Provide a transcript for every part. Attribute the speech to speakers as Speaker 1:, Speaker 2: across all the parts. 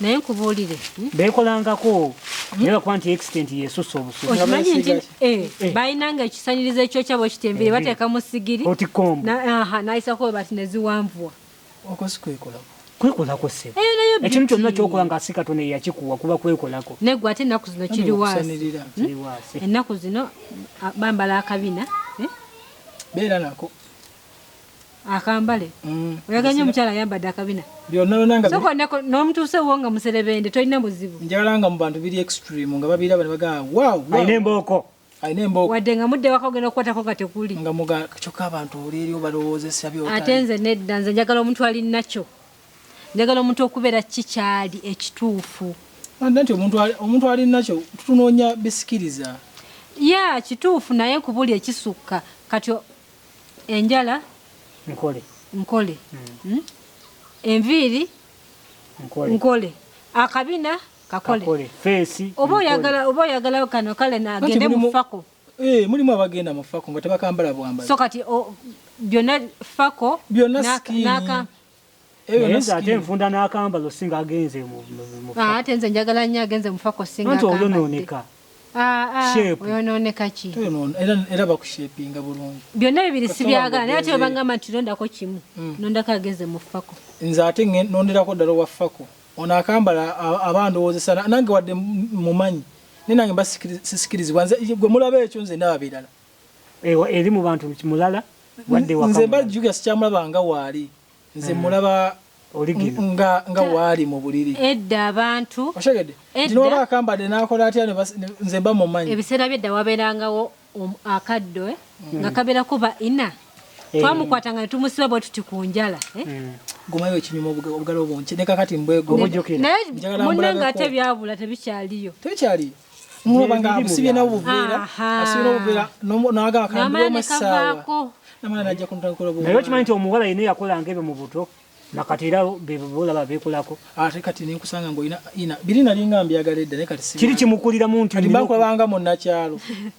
Speaker 1: naye nkubuulire hmm? beekolangako hmm? naye bakuba nti extent yesusa obusukimanyi nti eh,
Speaker 2: eh. balina nga ekisanirizo ekyokya bwe kiti enviri eh, bateeka mu sigiri nayisako bati ne ziwanvuwa
Speaker 1: kwekolako se ekintu kyonna kyokola nga si katonda eyakikuwa kuba kwekolako negwe ate ennaku zino
Speaker 2: kiri waasi hmm? ennaku zino bambala akabina
Speaker 3: beera nako
Speaker 2: akambale mm. oyagala nyo omukyala ayambadde akabina nomutuuse wo nga muserebende tolina muzibu njagala nga mu bantu biri
Speaker 3: extreme nga babiraba nebagaa alina embooko
Speaker 1: alina embooko wadde nga
Speaker 2: mudde waka ogenda okukwatako nga tekuli nga muga kyokka
Speaker 3: abantu olierio balowoozesa byo ate nze nedda nze
Speaker 2: njagala omuntu ali nakyo njagala omuntu okubeera ki kyali ekituufu nti
Speaker 3: omuntu ali nakyo tutunoonya bisikiriza ya
Speaker 2: kituufu naye kubuli ekisukka kati enjala nkole nkole hmm? enviiri nkole akabina kakole oba oyagala oba oyagala kano kale nagende mufako eh, mulimu abagenda
Speaker 3: mufako nga tebakambala bwambala so kati
Speaker 2: byonna fako byonna nakambala
Speaker 1: ebyo naye nze ate nfunda n'akambalo singa agenze ah, ate nze
Speaker 2: njagala nnyo agenze mufako singa nti oyonooneka
Speaker 1: ah, ah, oyonooneka
Speaker 2: ki era
Speaker 3: bakushepinga bulungi byonna bibiri sibyagala
Speaker 2: naye ate webangamba nti nondako kimu hmm. nondako agenze mufako nze ate
Speaker 3: nonderako ddala owafako ono akambala aba ndowoozesa nange wadde mumanyi naye nange mba sisikirizibwa gwe mulaba ekyo nze ndaba birala ewa eri mu
Speaker 1: bantu mulala wadde waka nze mba juga
Speaker 3: sikyamulaba nga waali nze mulaba nga nga waali mu buliri edda abantu
Speaker 2: oshegede edda oba
Speaker 3: akambade nakola atya ne nze mba mumanyi ebiseera byedda wabeerangawo
Speaker 2: um, akaddo eh? mm. nga kabeera kuba ina eh. twamukwata nga netumusiba bwe tuti ku njala eh? mm. gumayo
Speaker 3: ekinyuma obugalo bunki ne kakati mbwegomujukira naye munne nga ate
Speaker 2: byabula tebikyaliyo tebikyaliyo
Speaker 3: muloba nga abusibye nawo buveera asibye nawo buveera nawaga akambuwa amasaawa namala najja kuntakula buveera naye okimanyi nti omuwala yina
Speaker 1: yakolanga ebyo mu buto nakati era bebolaba bekolako ate kati nenkusanga
Speaker 3: ngaolina biri nalinga mbyagala edda naye kati kiri kimukuliramu nti
Speaker 1: bakulabanga munakyalo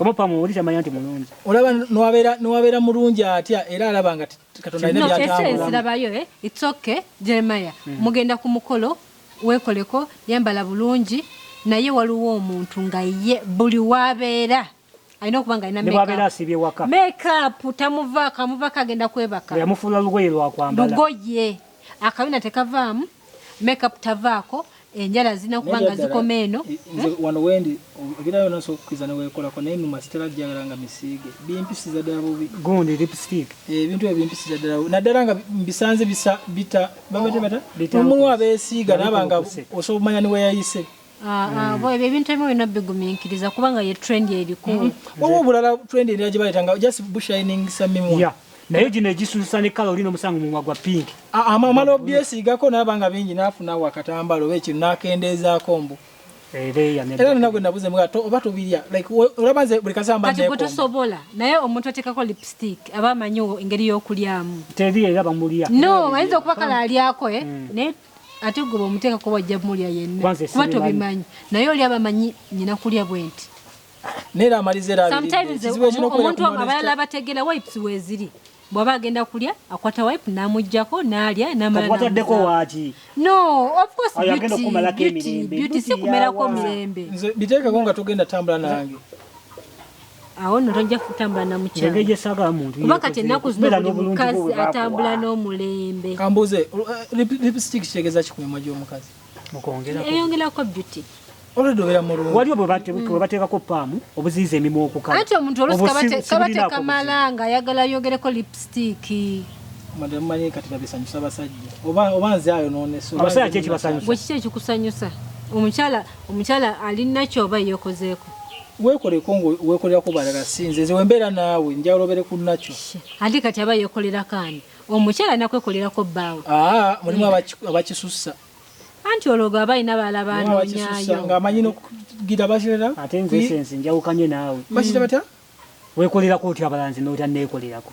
Speaker 1: omupa muwulire amanya nti mulungi olaba nwabeera
Speaker 3: nwabeera mulungi atya era alaba nga katonda alina byatambulamuekirabayo eh?
Speaker 2: its okay jeremaya mm. mugenda ku mukolo wekoleko yambala bulungi naye waliwo omuntu nga ye buli wabeera alina okuba nga alinawabeera asibye waka makeup tamuvaako amuvaako agenda kwebaka yamufuula lugoye lwakwambala
Speaker 1: lugoye
Speaker 2: akabina tekavaamu makeup tavaako enjala zirina kuba nga zikoma eno eh, eh? wano wendi
Speaker 3: ebira yona nsobola okukkiriza newekolako naye numa sitera jjagala nga misiige bimpisiza ddala bubi gundi lipstick
Speaker 1: eh, ebintu ebyo bimpisiza
Speaker 3: ddala naddala nga mbisanze bita babata bata omulwa beesiiga naba nga osobola okumanya niweyayise Ah, ah, mm. ebyo
Speaker 2: ebintu ebimu birina bigumiikiriza kubanga ye trend eriko mm. waliwo obulala
Speaker 3: trend erina gye bayitanga just bushining samimu naye gino egisuusa
Speaker 1: ne kala olina omusango mumwa gwa pinki ah, amala
Speaker 3: obyesigako naaba nga bingi naafuna wakatambala oba ekino nakendeezaako mbu era nina gwe nabuze mga oba tobirya olaba nze buli kasamba kati gwetosobola
Speaker 2: naye omuntu atekako lipstick aba amanyi engeri y'okulyamu teri era bamulya
Speaker 1: no ayinza okuba kala
Speaker 2: alyako eh? mm. naye ate gwe bwomuteekako wajja mulya yenna kuba tobimanyi naye oli abamanyi nyina kulya bwenti nera
Speaker 3: amaliza eraomuntu
Speaker 2: abalala abategera wipes weziri bwaba agenda kulya akwata wipe namujjako nalya namalatadeko waki
Speaker 1: no
Speaker 2: ofcoursebeauty sikumerako mirembe biteekeko nga tugenda
Speaker 3: tambula nange
Speaker 2: awo no tojja kutambula na mukyalakuba kati ennaku zino buli mukazi atambula n'omulembe kambuuze eh,
Speaker 3: lipstick kitegeza kikumimwa gy'omukazi
Speaker 2: eyongerako beauty
Speaker 1: waliwo bwebateekako paamu obuziiza emimwa okukaati omuntu
Speaker 2: olusikabatakamala nga ayagala ayogereko lipsitiiki madamu
Speaker 3: manye kati babisanyusa abasajja oba nze ayo nonesabasajja kyekibasanyusa bwekiki
Speaker 1: ekikusanyusa
Speaker 2: omukyala omukyala alina kyoba yekozeeko wekoleko ngo
Speaker 3: wekolera ku balala sinze nze wembera naawe njawulo bere ku nakyo ate kati aba
Speaker 2: yekolera kaani omukyala
Speaker 3: nakwekolera ko
Speaker 2: bbaawo aa mulimu mm.
Speaker 3: abakisussa
Speaker 2: anti ologo aba alina bala banonyayo nga amanyi nokugira
Speaker 3: bakirera ate nze sense
Speaker 1: njawukanye naawe bakira bata
Speaker 3: wekolerako
Speaker 1: otya abalanzi notanneekolerako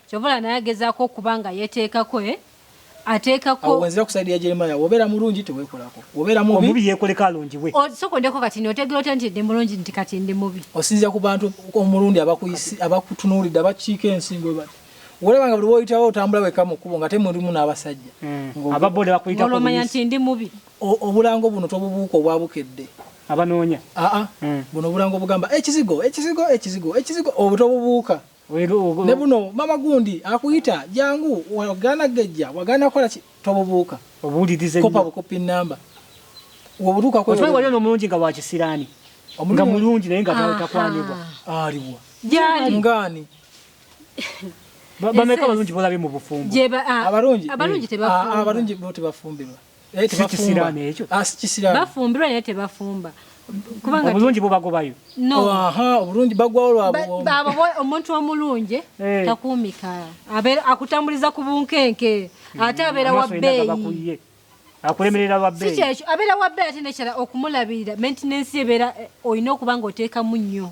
Speaker 2: Kyova olaba naye agezaako okuba nga yeteekako eh, ateekako. Awo wenzira ku side ya
Speaker 3: Jeremiah, wobeera mulungi tewekolako, wobeera mubi omubi yekoleko alungibwe. O,
Speaker 1: soka ondeko kati notegera
Speaker 2: otya nti ndi mulungi nti kati ndi mubi. Osinzira ku bantu
Speaker 3: omulundi abakuyisi abakutunuulidde abakiika ensingo webali. Wolaba nga buli woyitawo otambula wekka mu kkubo ngate mulimu n'abasajja. Mm. Aba boda
Speaker 1: bakuyitako Olwo omanya buyisi. nti ndi mubi.
Speaker 2: O- obulango buno
Speaker 3: tobubuuka obwa bukedde Abanoonya.
Speaker 1: aa Mm. buno
Speaker 3: obulango obugamba ekizigo ekizigo ekizigo ekizigo obwo tobubuuka ne buno mama gundi akuyita jangu wagana gejja wagana kola tobubuuka obuulirize kopa
Speaker 1: bukopi namba
Speaker 3: wobutuuka ko otwaye waliyo n'omulungi nga wa
Speaker 1: kisiraani nga mulungi naye nga takwanibwa aliwa
Speaker 3: jali ngani
Speaker 1: bameka abalungi bolabye mu bufumbo abalungi
Speaker 2: abalungi
Speaker 3: tebafumbirwa naye
Speaker 1: tebafumba ah, sikisiraani bafumbirwa naye
Speaker 2: tebafumba kubanga obulungi
Speaker 1: bubagobayo no aha obulungi
Speaker 3: bagwawo lwabo babo omuntu
Speaker 2: omulungi hey. Eh. takumika abe akutambuliza ku bunkenke hmm. ate abera wa beyi akulemerera
Speaker 1: wa beyi sikyo abera wa beyi ate
Speaker 2: nekira okumulabirira maintenance ebera eh, oyina okubanga oteka munyo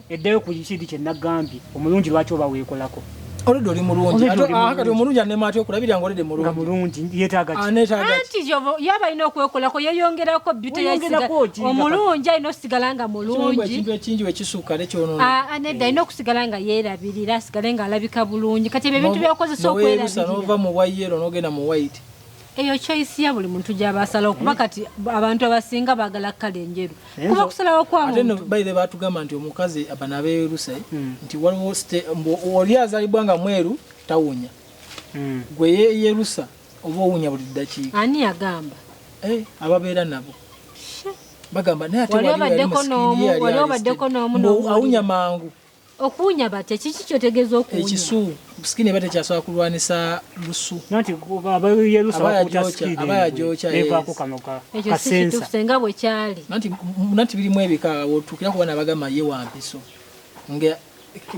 Speaker 3: Eddeyo ku kidi kye
Speaker 1: nagambye omulungi lwaki oba weekolako. Oludde oli mulungi
Speaker 3: kati omulungi anema atya okulabira nga oludde mulungi. Nga mulungi yeetaaga
Speaker 1: ki? Aneetaaga ki? Anti yobo
Speaker 2: yaba alina okwekolako yeeyongerako bbite yesiga omulungi alina okusigala nga mulungi. Ekintu ekingi bwe kisukka
Speaker 3: ne kyonoona. Aa ah, ah, nedda alina okusigala
Speaker 2: nga yeerabirira asigale ng'alabika bulungi kati ebyo ebintu by'okozesa okwerabirira. N'oweerusa n'ova mu bwa yellow
Speaker 3: n'ogenda mu white. eyo choice
Speaker 2: ya buli muntu gyaba asalawo kuba hmm. kati abantu abasinga bagala kala enjeru eh, kuba kusalawo kwamubaire batugamba nti
Speaker 3: omukazi abana beeruse hmm. nti waliwo oli azalibwa nga mweru tawunya hmm. gwe yeyerusa oba owunya buli ddakiika ani yagamba
Speaker 2: eh, ababeera
Speaker 3: nabo bagamba naye ate wali
Speaker 2: obaddeko n'omu awunya mangu
Speaker 3: Okuwunya batya
Speaker 2: kiki kyotegeeza okuwunya? Ekisu sikini eba
Speaker 3: tekyasobola kulwanisa lusu. Nanti aba yerusa bakuta sikini. Aba yajocha
Speaker 2: yes. Eva kukanoka. Ekyo si kitufu senga bwe kyali. Nanti nanti biri
Speaker 3: mwebika wotukira kubana bagama ye wampiso. Nge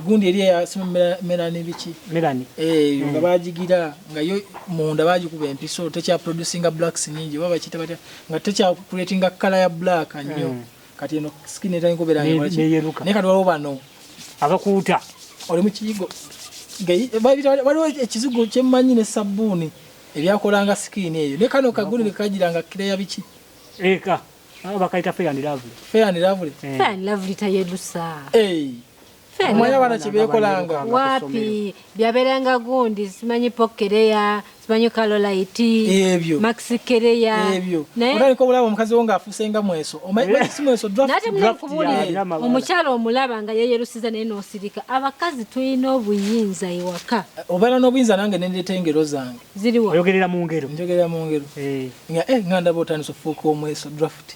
Speaker 3: gundi eri ya sima melani bichi. Melani. Eh mm. nga bajigira nga yo munda bajikuba empiso techa producing blacks nyingi baba chita batya nga techa creating a color ya black anyo. Mm. kati eno skin etayi kubera ne yeruka ne kadwalo bano abakuuta
Speaker 1: oli mu kiyigo
Speaker 3: gayi eh, babita waliwo ekizigo kyemmanyi ne sabbuuni ebyakolanga skin eyo ne kano kaguli ne kajiranga kireya biki eka
Speaker 1: eh, bakayita fair and lovely fair and lovely eh. fair and lovely tayerusa
Speaker 2: eh hey.
Speaker 3: Omanya bana kibekolanga wapi
Speaker 2: byaberanga gundi simanyi pokereya simanyi kalolaiti ebyo maxi
Speaker 3: kereya
Speaker 2: ebyo naye ko
Speaker 3: bulaba omukazi wonga afuse nga mweso omanyi yeah. si mweso draft nate mwe kubuli
Speaker 2: omukyalo omulaba nga yeye rusiza naye no sirika abakazi tuyina obuyinza iwaka obera no buyinza nange
Speaker 3: nende tengero zange ziriwa oyogerera mu
Speaker 2: ngero njogerera
Speaker 1: mu ngero eh
Speaker 3: nga eh nganda botani so fuko mweso draft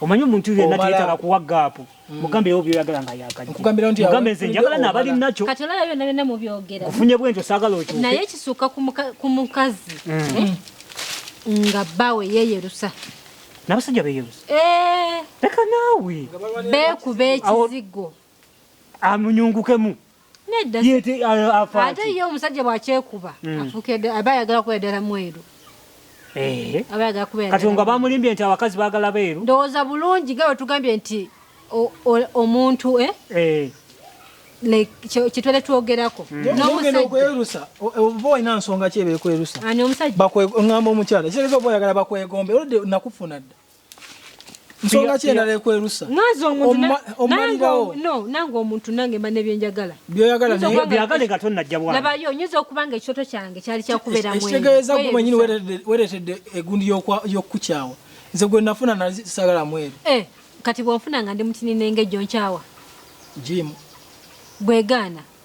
Speaker 1: omanyi omuntu yenna teyetaaga kuwa gaapu mm. mugambirewo byoyagala nga yakajjamugambe nze
Speaker 3: njagala naabali
Speaker 1: nakyo kati olaba byonna byonna
Speaker 2: mubyogera kufunye bwentyo saagala
Speaker 1: okyuke naye kisuuka
Speaker 2: ku mukazi mm. eh? nga bbaawe yeyerusa n'abasajja
Speaker 1: beyerusa eh. leka naawe beekuba
Speaker 2: ekizigo
Speaker 1: amunyungukemu ate ye omusajja
Speaker 2: bwakyekuba hmm. afukedde aba ayagala kuba ddala mweru eh. kati nga bamulimbye nti
Speaker 1: abakazi bagala beeru ndowooza bulungi nga
Speaker 2: wetugambye nti omuntu eh? Eh. kitwere twogerako
Speaker 3: nomusajjaokwerusa oba olina nsonga ki ebekwerusa ani omusajja
Speaker 2: ngamba omukyala
Speaker 3: kitegeeza oba oyagala bakwegombe olwedde nakufuna dda nsonga ki endala ekwerusa
Speaker 2: omalirawo nange omuntu nange mba nebyenjagala byoyagalabyagale
Speaker 3: nga tonnajja
Speaker 1: bwalabayo nyinza okuba nga
Speaker 2: ekyoto kyange kyali kyakubeeramweekitegeeza gwe mwenyini
Speaker 3: weretedde egundi yokukukyawa nze gwe nafuna nasagala mweru eh, kati bwonfuna
Speaker 2: nga ndi mutinine nga ejjo nkyawa jimu bwegaana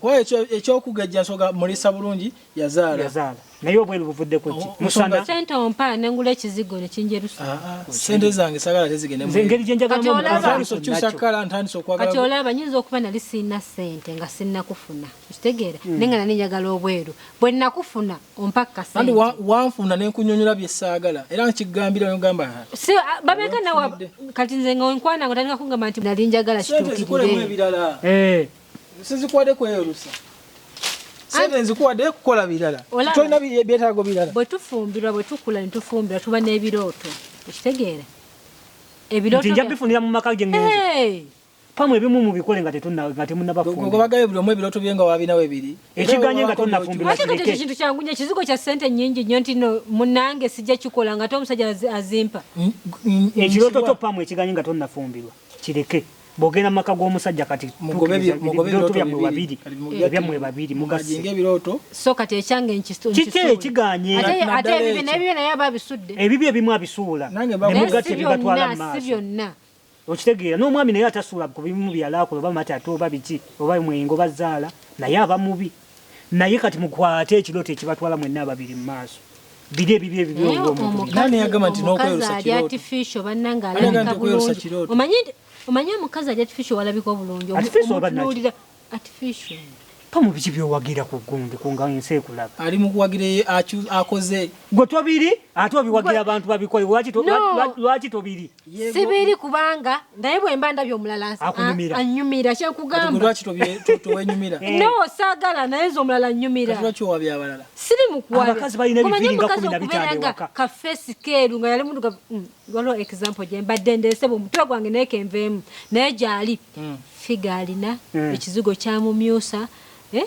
Speaker 3: Kuba ekyo eky'okugejja nsonga mulisa bulungi yazaala. Yazaala. Naye obwelu
Speaker 1: buvuddeko ki? Oh, Musana. Sente ompa ne ngula
Speaker 2: ekizigo ne kinjerusa. Ah, ah. Oh, Sente zange
Speaker 3: sagala tezigende mu. Nze engeri gye njagalamu omukazi.
Speaker 1: Ntandise okukyusa kkala, ntandise
Speaker 2: okwagala. Kati olaba nyinza okuba nali sirina sente nga sinnakufuna. Okitegeera? Hmm. Naye nga nali njagala obweru. Bwe nnakufuna ompa kasente. Andi wanfuna ne
Speaker 3: nkunyonyola bye saagala. Era nkigambira ne ngamba. Si ah, babeka
Speaker 2: nawe kati nze nga onkwana nga otandika kungamba nti nali njagala kituukirire. Sente zikolemu ebirala.
Speaker 3: Eh. Sizikwade kweyorusa. Sente nzikuwade kukola birala. Tolina byetaago birala. Bwe tufumbirwa bwe
Speaker 2: tukula ne tufumbirwa tuba n'ebirooto. Ekitegeera? Ebirooto. Nja bifunira mu
Speaker 1: maka gye ngenze. Pamwe ebimu mubikole nga tetunna nga temunnaba fumbi. Gogo bagaye buli omu ebirooto bye
Speaker 3: nga wabina we biri. Ekiganye nga tonnafumbirwa.
Speaker 1: Ate kati ekintu kyangu nnyo
Speaker 2: ekizigo kya ssente nnyingi nnyo nti no munnange sijja kikola nga ate omusajja azimpa. Ekirooto
Speaker 1: kyo pamwe ekiganye nga tonnafumbirwa kireke. bogenda maka g'omusajja kati mugobebiroto byammwe babiri ebyammwe babiri mugasinga ebirooto
Speaker 3: so kati ekyange
Speaker 2: kiki ekiganye
Speaker 1: ate ebibyo
Speaker 2: nebibyo naye aba abisudde ebibyo ebimu abisuula
Speaker 1: nemugati ebigatwala maaso byonna
Speaker 2: okitegeera
Speaker 1: n'omwami naye atasuula ku bimu byalaakula oba mati ate oba biki oba mwengo bazaala naye aba mubi Naye kati mukwate ekirooto ekibatwala mwenna ababiri mu maaso. Biri ebibye ebibye Naye omuntu. omukazi Nani
Speaker 3: yagamba nti omukazi n'okweyosa ali kirooto? artificial bannange Ani yagamba alabika nti okweyosa bulungi kirooto? omanyi nti- omanyi
Speaker 2: omukazi ali artificial walabika obulungi Omu- Artificial oba naki? omutunuulira
Speaker 1: artificial Pa mu biki byowagira ku gundi ku nga ensi ekulaba. ali mu kuwagira eye
Speaker 3: acu- akoze Gwe tobiri
Speaker 1: ate obiwagira abantu babikole lwaki to- No. lwa- lwaki tobiri? sibiri kubanga
Speaker 2: naye bwemba ndabye omulala anyumira kyenkugamba
Speaker 3: no sagala
Speaker 2: naye nze omulala anyumira
Speaker 3: siri
Speaker 2: mukuwalekubeeranga
Speaker 1: kafesi keeru
Speaker 2: nga yali muduga mm, waliwo example gye mbadde ndeese bwomutwe gwange naye kenveemu naye gyali hmm. figa alina hmm. ekizigo kyamumyusa eh?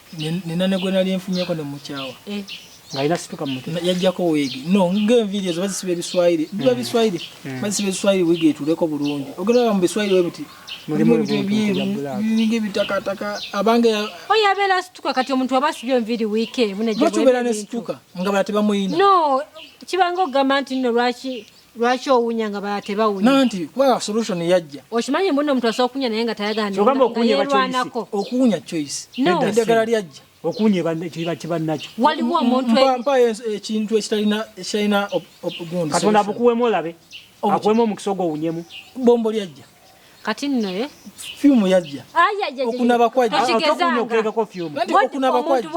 Speaker 1: nina ne gwe nali
Speaker 3: nfunyeko ne mukyawa eh. ng'alina situka
Speaker 1: mu mutwe yajjako wiigi no
Speaker 3: ng'enviiri ezo bazisiba ebiswayiri hmm. biba biswayiri hmm. bazisiba ebiswayiri wiigi etuuleko bulungi ogendaba mu biswayiri we biti mulimu ebintu ebyeru biringa ebitakataka abange oyo abeera asituka
Speaker 2: kati omuntu aba asibye enviiri wiiki emu nebakibeera
Speaker 3: ne
Speaker 2: situka
Speaker 3: nga
Speaker 2: bala
Speaker 3: tebamuyina
Speaker 2: no
Speaker 3: kibanga
Speaker 2: okugamba
Speaker 3: nti nno
Speaker 2: lwaki lwaki owunya nga bala tebawunya nanti kuba solution
Speaker 3: yajja okimanyi mbuno omuntu asobola
Speaker 2: okunya naye nga tayaganayelwanako
Speaker 1: okuwunya
Speaker 2: choice
Speaker 3: eddagala lyajja okuwunya
Speaker 1: kiba nakyo waliwo omuntumpayo
Speaker 2: ekintu
Speaker 3: ekitalina obugundi katonda bukuwemu olabe
Speaker 1: akuwemu omukisa ogwo owunyemu bombo lyajja
Speaker 3: kati nno
Speaker 2: eh? fyumu
Speaker 3: yajja okunaba
Speaker 1: kwajjaokunaba
Speaker 3: kwajja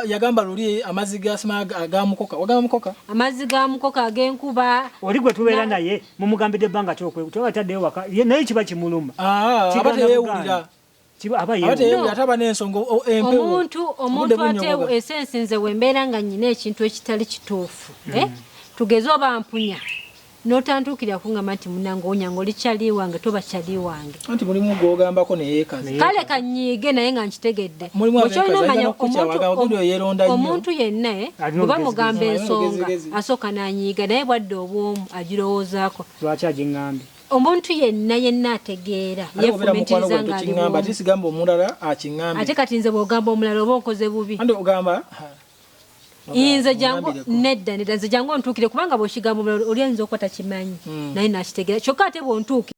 Speaker 3: yagamba luli amazzi gasima agamukoka wagamba mukoka amazzi gamukoka
Speaker 2: agenkuba oli gwe tubeera naye
Speaker 1: mumugambidde ebbanga kyokwetaddeyo waka naye kiba kimuluma ah, aba teyewulira
Speaker 3: omuntu omuntu ateewo
Speaker 2: esensi nze wembeera nga nyina ekintu ekitali kituufu mm. eh? tugeze oba mpunya notantukira kungamba nti munange onyanga oli kyali wange toba kyali wange anti mulimu gwogambako
Speaker 3: neyekazi kale kanyiige
Speaker 2: naye nga nkitegedde okyolina omanya omuntu yenna eh, oba mugamba ensonga asooka nanyiiga naye bwadde obwomu agirowoozako lwaki agingambye
Speaker 1: Omuntu yenna
Speaker 2: yenna ategeera yefumiitiriza nga ali bw'omu. Ate sigamba
Speaker 3: omulala aking'ambe. Ate kati nze bw'ogamba
Speaker 2: omulala oba onkoze bubi. Andi ogamba inze jangu nedda nedda nze jangu ontuukire kubanga bw'okigamba omulala oli ayinza okuba takimanyi hmm. naye n'akitegeera kyokka ate bw'ontuukira